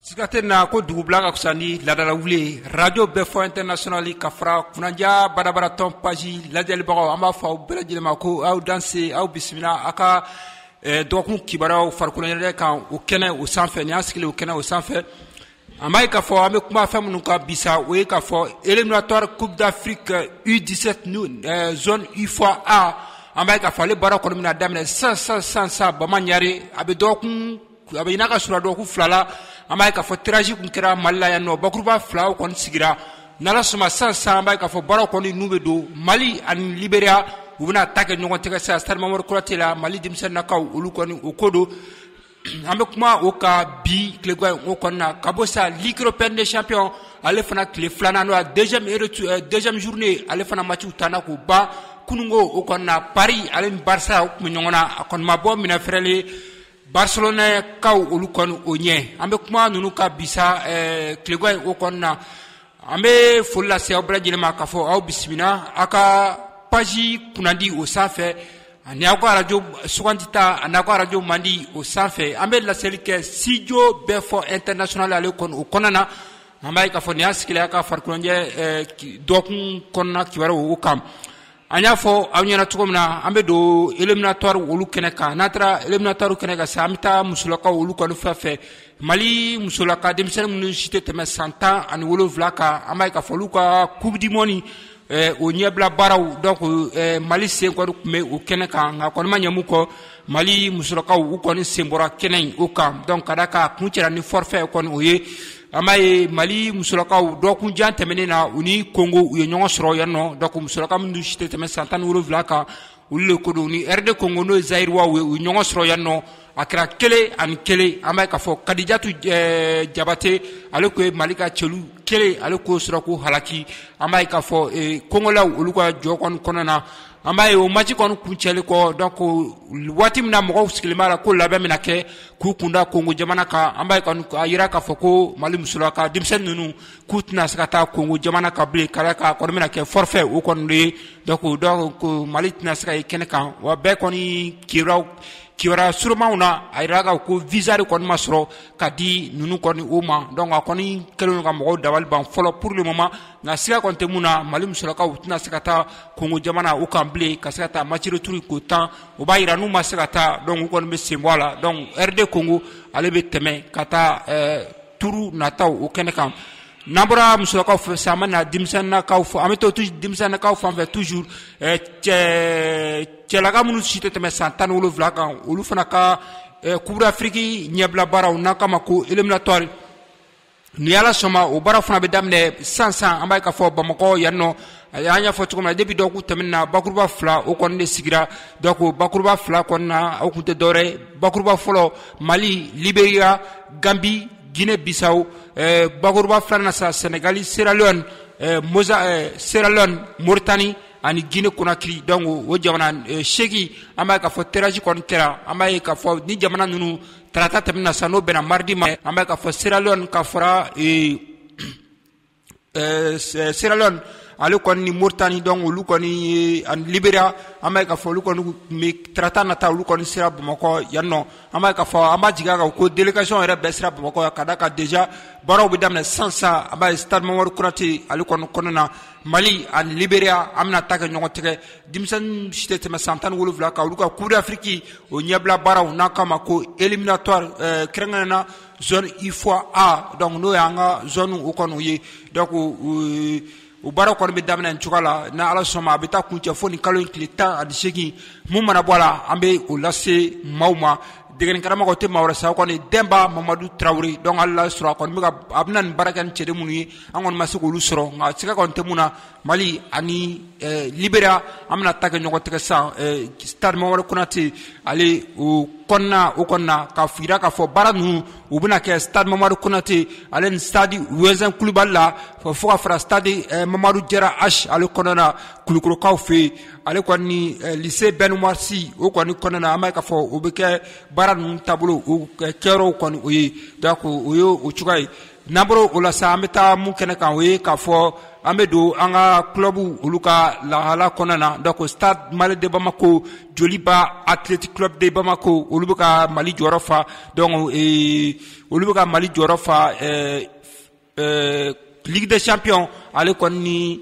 siga tɛ na ko dugubila ka fisa ni laadala wuli ye radio bɛɛ fɔ international ka fara kunanja badabada tɔn page lajɛlibagaw an b'a fɔ aw bɛɛ lajɛlen ma ko aw danse aw bisimila aw ka dɔgɔkun kibaruyaw farikoloɲɛnajɛ kan o kɛnɛ o sanfɛ nin y'an sigilen o kɛnɛ o sanfɛ an b'a ye k'a fɔ an bɛ kuma fɛn minnu kan bi sa o ye k'a fɔ éliminatoire coupe d'afrique u17 ni zone ufoa a an b'a ye k'a fɔ ale baara kɔni bɛna daminɛ sisan sisan sisan sisan bama ɲare a bɛ dɔgɔkun a bɛ n'a ka surun dɔgɔkun fila la an b'a ye k'a fɔ tirage tun kɛra mali la yan nɔ bakuruba filaw kɔni sigira n suma sisan an b'a ye k'a fɔ baara kɔni n'u bɛ don mali ani liberia u bɛna ta kɛ ɲɔgɔn tɛgɛ sa stade mamadou konaté la mali denmisɛnninakaw olu kɔni o ko don an bɛ kuma o kan bi tilegan o kɔnɔna na ka bɔ sa ligue européenne des champions ale fana tile filanan n'o deuxième journée ale fana matchw tanna k'u ban kununko o kɔnɔna na paris ale barça tun bɛ ɲɔgɔn na a kɔni ma bɔ minɛn fɛɛrɛlen Barcelonakaw olu kɔni o ɲɛ an bɛ kuma ninnu kan bi sa tilegan o kɔnɔna na an bɛ foli lase aw bɛɛ lajɛlen ma k'a fɔ aw bisimila aw ka page kunnadi o sanfɛ ani aw ka radio sugandita ani aw ka radio mandi o sanfɛ an bɛ laseli kɛ studio bɛɛ fɔ international ale kɔni o kɔnɔna na an b'a ye k'a fɔ nin y'an sigilen aw ka farikoloɲɛnajɛ dɔgɔkun kɔnɔna kibaruw o kan an y'a fɔ aw ɲɛna cogo min na an bɛ don eliminatɔri olu kɛnɛ kan n'an taara eliminatɔri kɛnɛ kan sisan an bɛ taa musolakaw olu kɔni fan fɛ mali musolaka denmisɛnnin minnu si tɛ tɛmɛ san tan ani wolonwula kan an b'a ye k'a fɔ olu ka coupe du monde eh, o ɲɛbila baaraw donc eh, mali sen kɔni tun bɛ o kɛnɛ kan nka kɔni ma ɲɛ mun kɔ mali musolakaw u kɔni sen bɔra kɛnɛ in o kan donc ka da ka kuncɛra ni forfait kɔni o ye an b'a ye mali musolakaw dɔgɔkun jan tɛmɛnen na u ni kongo u ye ɲɔgɔn sɔrɔ yan nɔ donc musolaka minnu si tɛ tɛmɛ san tan ni wolonwula kan olu le ko don ni rd kongo n'o ye zaïroisw ye u ye ɲɔgɔn sɔrɔ yan nɔ a kɛra kelen ani kelen an b'a ye k'a fɔ kadijatu eh, jabate ale ko ye mali ka celu kelen ale k'o sɔrɔ ko halaki an b'a ye k'a fɔ eh, kongolaw olu ka jɔ kɔni kɔnɔna na an b'a ye o match kɔni kuncɛlen kɔ donc waati min na mɔgɔw sigilen b'a la ko labɛn bɛna kɛ k'u kunda kongo jamana kan an b'a ye kɔni a jirala k'a fɔ ko mali musolaka denmisɛnnin ninnu k'u tɛna se ka taa kongo jamana kan bilen ka ka kɔni bɛna kɛ forfait o kɔni ye donc mali tɛna se ka ye kɛnɛ kan wa bɛɛ kɔni kibaw kibaruya surunmaw na a jirala ko visa de kɔni ma sɔrɔ ka di ninnu kɔni o ma donc a kɔni kɛlen ka mɔgɔw dabali ban fɔlɔ pour le moment nka siga kɔni tɛ mun na Mali musolakaw u tɛna se ka taa Kongo jamana o kan bilen ka se ka taa match retour ko tan o b'a jira n'u ma se ka taa donc u kɔni bɛ sen bɔ a la donc RD Congo ale bɛ tɛmɛ ka taa ɛɛ turu nataw o kɛnɛ kan n'an bɔra musolakaw fɛ sa an bɛ na denmisɛnninnakaw fɛ an bɛ to denmisɛnninnakaw fan fɛ toujours ɛɛ cɛ cɛlaka minnu si tɛ tɛmɛ san tan ni wolonwula kan olu fana ka ɛɛ Coupe d'Afrique ɲɛbila baaraw n'an k'a ma ko éliminatoire ni ala sɔnma o baara fana bɛ daminɛ san san an b'a ye k'a fɔ bamakɔ yan nɔ an y'a fɔ cogo min na depuis dɔkun tɛmɛn na bakuruba fila o kɔni de sigira donc bakuruba fila kɔnɔna na o kun tɛ dɔwɛrɛ bakuruba fɔlɔ mali liberiya ganbi jinɛ bisaw eh, bakuruba fila na sa sɛnɛgali seralon eh, moza eh, seralon moritani ani gine konakiri donc o jamana eh, seegin an b'a ye k'a fɔ tirage kɔni kɛra an b'a ye k'a fɔ ni jamana ninnu tarata tɛmɛna sa n'o bɛnna maridi ma an b'a ye k'a fɔ Sierra Leone ka fara Sierra Leone ale kɔni ni Mauritanie donc olu kɔni ni ani Liberia an b'a ye k'a fɔ olu kɔni bɛ tarata nata olu kɔni sera Bamakɔ yan nɔ an b'a ye k'a fɔ an b'a jigi a kan ko délégation yɛrɛ bɛɛ sera Bamakɔ yan ka d'a kan déjà baaraw bɛ daminɛ sisan sa an b'a ye stade Mamadu Konate ale kɔni kɔnɔna na mali ani liberia an bɛna ta kɛ ɲɔgɔn tɛgɛ denmisɛnnin si tɛ tɛmɛ san tan ni wolonwula kan olu ka coupe d'afrique o ɲɛbila baaraw n'an k'a ma ko éliminatoire eh, kɛrɛnkɛrɛn na zone ufoa a donc n'o y'an ka zone o kɔni ye donc o baara kɔni bɛ daminɛ nin cogoya la ni ala sɔnma a bɛ taa kuncɛ fo nin kalo in tile tan ani seegin mun mana bɔ a la an bɛ o lase maaw ma degeni karamɔgɔ tɛ maa wɛrɛ sa kɔni denba mamadu tarawele donc hali n'a sɔrɔ a kɔni bɛ ka a bɛna nin baara kɛ ni cɛden minnu ye an kɔni ma se k'olu sɔrɔ nka siga kɔni tɛ mun na mali ani eh, liberiya an bɛna ta kɛ ɲɔgɔn tɛgɛ sisan eh, stade mamadu konate ale o kɔnɔna o kɔnɔna ka fira k'a fɔ baara ninnu u bɛna kɛ stade mamadu konate ale ni stade wɛzɛn kulubali la fo ka fara stade eh, mamadu jara h ale kɔnɔna na kulikɔrɔkaw fɛ yen ale kɔni ni eh, lycée bɛn umar si o kɔni kɔnɔna na an b'a ye k'a fɔ o bɛ kɛ baara ninnu taabolo o kɛyɔrɔw kɔni o ye donc o ye o cogoya ye N'an bɔra o la sa an bɛ taa mun kɛnɛ kan o ye k'a fɔ an bɛ don an ka kulobu olu ka lahala kɔnɔ na donc stade malien de bamako joliba athlétic club de bamako olu bɛ ka mali jɔyɔrɔ fa donc olu bɛ ka mali jɔyɔrɔ fa ɛɛ ɛɛ ligue des champions ale kɔni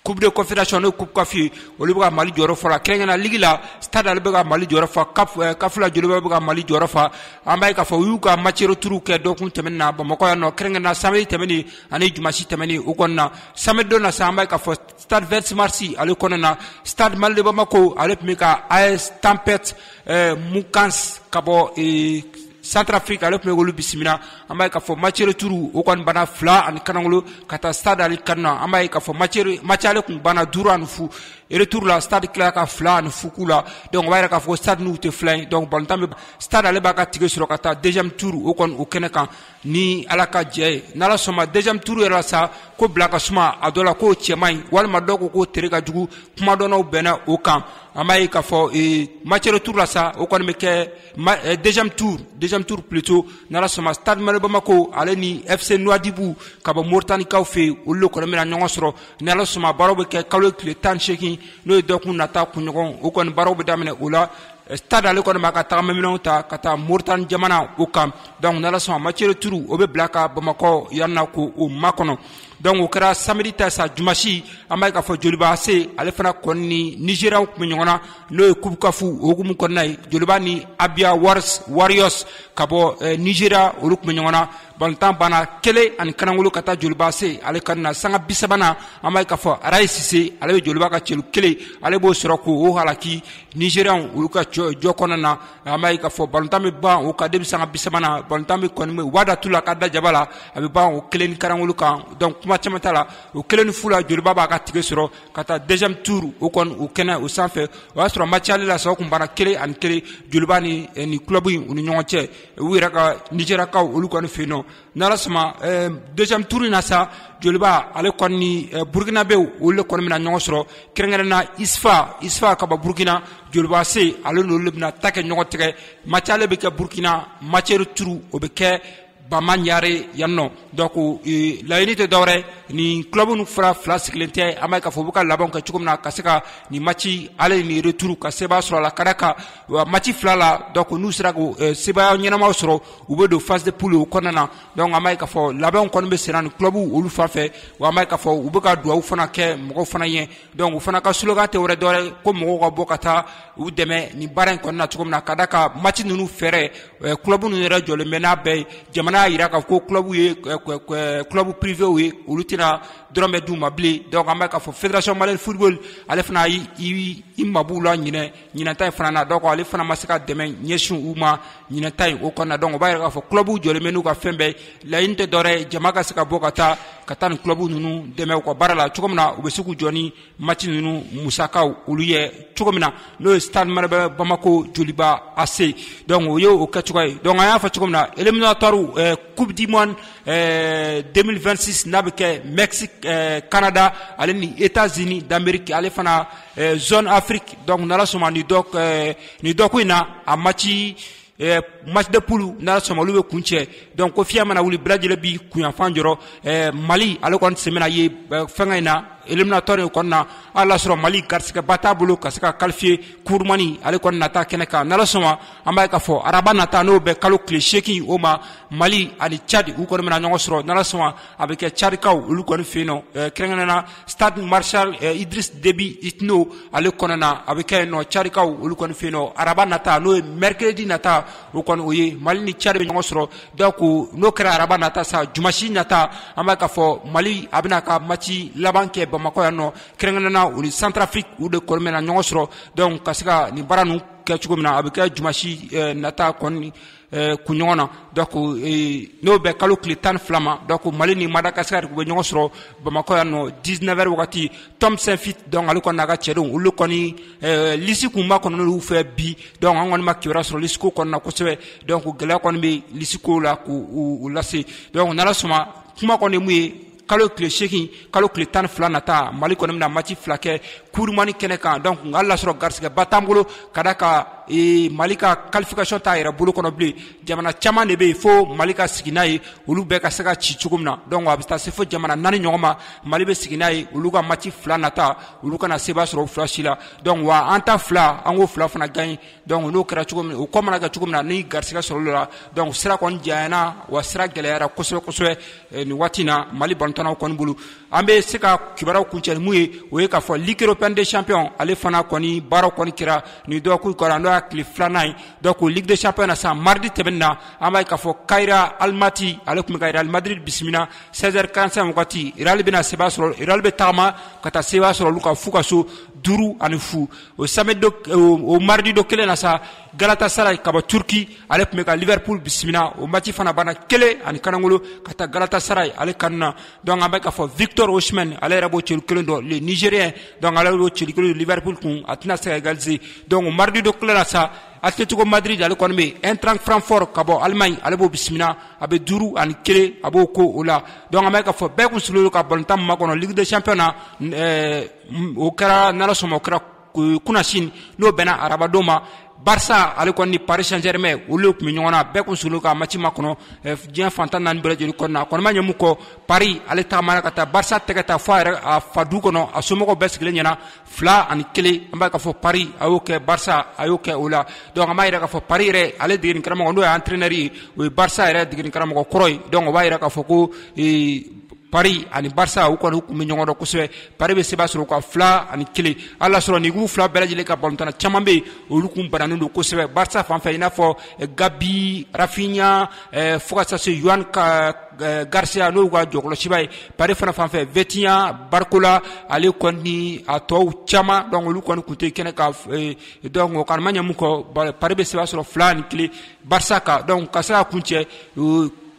coupe de confédération n'o ye coupe caf ye olu bɛ ka mali jɔyɔrɔ fa o la kɛrɛnkɛna ligi la stade ale bɛ ka mali jɔyɔrɔ fa eh, caf la joliba bɛ ka mali jɔyɔrɔ fa an b'a ye k'a fɔ u y'u ka match retour kɛ dɔkun tɛmɛn na bamakɔ yan nɔ kɛrɛnkɛna samedi tɛmɛni ani jumasi tɛmɛni u kɔnɔna na samedi don na sa an b'a ye k'a fɔ stade 26 mars ale kɔnɔna na stade malien de bamako ale tun bɛ ka as tempête eh, mocaf ka bɔ eh, Centrafrique ale tun bɛ olu bisimila an b'a ye k'a fɔ match retour o kɔni banna fila ani kanagolo ka taa stade ale kanu na an b'a ye k'a fɔ ma match aller tun banna duuru ani fu eh, retour la stade tilala ka fila ani fu k'u la donc o b'a yira k'a fɔ stade tɛ fila in donc balontan bɛ stade ale b'a ka tikɛ sɔrɔ ka taa deuxième tour o kɔni o kɛnɛ kan ni ala ka jɛ ye n'ala sɔnma deuxième tour yɛrɛ sa k'o bila ka suma a dɔ la k'o cɛ man ɲi walima dɔw ko k'o tere ka jugu kumadɔnw bɛnna o kan an b'a ye k'a fɔ match retour la sa o kɔni bɛ kɛ deuxième tour deuxième tour plutôt n'ala sɔnma stade malien bamakɔ ale ni fc nouadhibou ka bɔ moritanikaw fɛ yen olu le kɔni bɛna ɲɔgɔn sɔrɔ ni ala sɔnma baaraw bɛ kɛ kalo tile tan seegin n'o ye dɔgɔkun nata kunɲɔgɔn o kɔni baaraw bɛ daminɛ o la stade ale kɔni b'a ka tagamaminɛnw ta ka taa moritani jamana o kan donc n'ala sɔnma match retour o bɛ bila ka bamakɔ yan na k'o makɔnɔ donc o kɛra samedi ta sa jumasi an b'a ye k'a fɔ joliba ac ale fana kɔni ni nigeriaw tun bɛ ɲɔgɔn na n'o ye coupe caf o hukumu kɔnɔna ye joliba ni abia wari warriors ka bɔ eh, nigeria olu tun bɛ ɲɔgɔn na balontan banna kelen ani kanakolo ka taa joliba ac ale kanu na sanga bi sabanan an b'a ye k'a fɔ raye sise ale bɛ joliba ka celu kelen ale b'o sɔrɔ k'o halaki nigeriaw olu ka jɔ kɔnɔna na an b'a ye k'a fɔ balontan bɛ ban o kan depuis sanga bi sabanan balontan bɛ kɔni u b'a da tu la ka da jaba la a bɛ ban o kelen ni karangolo kan donc kuma caman t'a la o kelen ni fu la joliba b'a ka tikɛ sɔrɔ ka taa deuxième tour o kɔni o kɛnɛ o sanfɛ o y'a sɔrɔ match aller la sa o kun banna kelen ani kelen joliba ni eh, ni club in u ni ɲɔgɔn cɛ u yɛrɛ ka nigeriakaw olu kɔni fɛ yen nɔ N'ala sɔnma deuxième tour in na sa joliba ale kɔni ni burukinabe olu le kɔni bɛna ɲɔgɔn sɔrɔ kɛrɛnkɛrɛnnenya na usfa usfa ka bɔ burukina joliba ac ale n'olu le bɛna ta kɛ ɲɔgɔn tigɛ match aller bɛ kɛ burukina match retour o bɛ kɛ bamaɲare yan nɔ donc laɲini tɛ dɔwɛrɛ nin club ninnu fara fila sigilen tɛ an b'a ye k'a fɔ u bɛ ka labɛn kɛ cogo min na ka se ka nin match aller ni retour ka sebaaya sɔrɔ a la ka d'a kan match fila la donc n'u sera k'o sebaaya ɲɛnamaw sɔrɔ u bɛ don phase de poule u kɔnɔna na donc an b'a ye k'a fɔ labɛnw kɔni bɛ senna ni club olu fan fɛ wa an b'a ye k'a fɔ u bɛ ka dugawu fana kɛ mɔgɔw fana ye donc u fana ka slogan tɛ wɛrɛ dɔwɛrɛ ko mɔgɔw ka bɔ ka taa u dɛmɛ nin baara in kɔnɔna na cogo min na ka da ka match ninnu fɛɛrɛ club ninnu yɛrɛ jɔlen bɛ n'a bɛɛ ye jamana y'a jira k'a fɔ ko club ye club privéw ye olu tɛna dɔrɔmɛ d'u ma bilen donc an b'a ye k'a fɔ fédération malienne football ale fana y'i mab'u la ɲinan ɲinan ta in fana na donc ale fana ma se ka dɛmɛ ɲɛsin u ma ɲinan ta in o kɔnɔna donc o b'a yira k'a fɔ clubw jɔlen bɛ n'u ka fɛn bɛɛ laɲini tɛ dɔwɛrɛ ye jama ka se ka bɔ ka taa ka taa nin club ninnu dɛmɛ u ka baara la cogo min na u bɛ se k'u jɔ ni match ninnu musakaw olu ye cogo min na n'o ye stade malien bamako joliba ac donc o ye o kɛ cogoya ye donc an y'a fɔ cogo min na éliminatoire eh, coupe du monde eh, 2026 n'a bɛ kɛ mexique eh, canada ale ni états unis d'amérique ale fana zone Afrique donc n'Ala sɔnna nin dɔ ɛɛ nin dɔkun in na a match ɛɛ match de poule n'Ala sɔnna olu bɛ kuncɛ donc ko fiɲɛ mana wuli bɛɛ lajɛlen b'i kunyanfan jɔrɔ ɛɛ Mali ale kɔni sen bɛna ye fɛngɛ in na éliminatoire in kɔni na hali n'a sɔrɔ Mali garisigɛba t'a bolo ka se ka qualifier coupe du monde ale kɔni nata kɛnɛ kan n'Ala sɔnna an b'a ye k'a fɔ araba nata n'o bɛ kalo tile seegin o ma Mali ani Tchad u kɔni bɛna ɲɔgɔn sɔrɔ n'Ala sɔnna a bɛ kɛ tchadkaw olu kɔni fɛ yen kɛrɛnkɛrɛn na stade maréchal idriss déby itno ale kɔnɔna na a bɛ kɛ yen nɔ tchadkaw olu kɔni fɛ yen nɔ araba nata n'o ye mercredi nata o kɔni o ye mali ni tchad bɛ ɲɔgɔn sɔrɔ donc n'o kɛra araba nata sa dimasi nata an b'a ye k'a fɔ mali a bɛn'a ka mati laban kɛ bamakɔ yan nɔ kɛrɛnkɛrɛn na u ni centrafrique u de kɔni bɛna ɲɔgɔn sɔrɔ donc ka se ka nin baara ninnu kɛ cogo min na a bɛ kɛ dimasi nata kɔni Eh, kunɲɔgɔn na donc eh, n'o bɛ kalo tile tan ni fila ma donc mali ni madagasikari u bɛ ɲɔgɔn sɔrɔ bamakɔ yan nɔ 19 heures wagati tom saintfiet donc ale kɔni n'a ka cɛdenw olu kɔni eh, lisi kun makɔnɔna olu fɛ bi donc an kɔni ma kibaruya sɔrɔ lisiko kɔni na kosɛbɛ donc gɛlɛya kɔni bɛ lisiko la k'u lase donc n'ala sɔnna kuma kɔni ye mun ye kalo tile seegin kalo tile tan fila nata mali kɔni bɛna mati fila kɛ coupe du monde kɛnɛ kan donc nka hali n'a sɔrɔ garisigɛba t'an bolo k'a d'a kan e, mali ka qualification t'a yɛrɛ bolo kɔnɔ bilen jamana caman de bɛ yen fo mali ka sigi n'a ye olu bɛɛ ka se ka ci cogo min na donc a bɛ taa se fo jamana naani ɲɔgɔn ma mali bɛ sigi n'a ye olu ka mati fila nata olu kana seba sɔrɔ o fila si la donc wa an ta fila an k'o fila fana gaɲi dɔnku n'o kɛra cogo min o ko mana kɛ cogo min na ni garisigɛ sɔrɔla dɔnku sira kɔni janyana wa sira gɛlɛyara kosɛbɛ kosɛbɛ eh, nin waati na mali balontannaw kɔni bolo an bɛ se ka kibaruyaw kuncɛ ni min ye o ye k'a fɔ ligue européenne des champions ale fana kɔni baara kɔni kɛra nin dɔgɔkun kɔnɔ n'o y'a tile filanan ye dɔnku ligue des champions na sisan maridi tɛmɛnen na an b'a ye k'a fɔ kairat almaty ale tun bɛ ka real madrid bisimila 16 heures 45 wagati real bɛna seba sɔrɔ real bɛ taama ka taa seba sɔrɔ olu kan f'u ka so duuru ani fu o samedi don o mardi don kelen na sa Galatasaray ka bɔ Turki ale tun bɛ ka Liverpool bisimila o match fana banna kelen ani kanangolo ka taa Galatasaray ale kanu na donc an bɛ k'a fɔ Victor Osimhen ale yɛrɛ b'o celu kelen don le Nigérien donc ale b'o celu kelen don Liverpool kun a tɛna se ka égaliser donc o mardi don kelen na sa Atletico Madrid ale kɔni bɛ Eintracht Francfort ka bɔ Allemagne ale b'o bisimila a bɛ duuru ani kelen a b'o kɛ o la donc an bɛ k'a fɔ bɛɛ kun sigilen don ka balontan min makɔnɔ Ligue des Champions na ɛɛ o kɛra n'ala sɔnna o kɛra kunasini n'o bɛnna arabadon ma barisa ale kɔni ni paris saint-germain olu tun bɛ ɲɔgɔn na bɛɛ tun sigilen ka mati makɔnɔ diɲɛ fan tan naani bɛɛ lajɛlen kɔnɔ a kɔni ma ɲɛ mun kɔ paris ale taamana ka taa barisa tɛgɛ ta fo a yɛrɛ a fa du kɔnɔ a somɔgɔw bɛɛ sigilen ɲɛna fila ani kelen an b'a ye k'a fɔ paris a y'o kɛ barisa a y'o kɛ o la dɔnku an b'a yira k'a fɔ paris yɛrɛ ale degekaramɔgɔ n'o ye entraîneur ye o ye barisa yɛrɛ degekaramɔgɔ kɔrɔ ye dɔnku o b'a jira k'a fɔ ko paris ani barça u kɔni tun bɛ ɲɔgɔn dɔn kosɛbɛ paris bɛ seba sɔrɔ ka fila ani kelen ala sɔrɔ nin kulu fila bɛɛ lajɛlen ka balɔntanna caman bɛ yen olu tun bananen don kosɛbɛ barça fanfɛ i n'a fɔ gavi rafinha fo taa se joan garcia n'u ka jɔkɔlɔsiba ye paris fana fanfɛ vitinha barcola ale kɔni a tɔw caman donc olu kɔni tun tɛ kɛnɛ kan donc o kan ma ɲɛ min kɔ paris bɛ seba sɔrɔ fila ni kelen barça kan ka se ka kuncɛ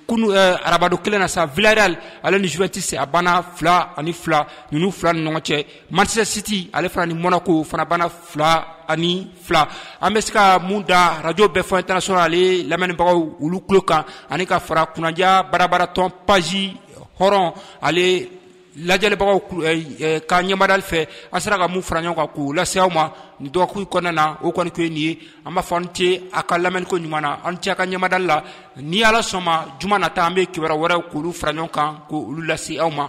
kunu arabadon kelen na sa villarreal ale ni juventus a banna fila ani fila ninnu fila ni ɲɔgɔn cɛ manchester city ale fana ni monaco fana banna fila ani fila an bɛ se ka mun da arajo bɛɛ fɔ international ale lamɛnnibagaw olu tulo kan ani ka fara kunnadiya barabaratɔn page hɔrɔn ale lajɛlibagaw ka ɲɛmadali fɛ an sera ka mun fara ɲɔgɔn kan k'u lase aw ma nin dɔgɔkun kɔnɔna na o kɔni ko ye nin ye an b'a fɔ a ni ce a ka lamɛniko ɲuman na a ni ce a ka ɲɛmadali la ni ala sɔnma juma nata an bɛ kibaru wɛrɛ k'olu fara ɲɔgɔn kan k'olu lase aw ma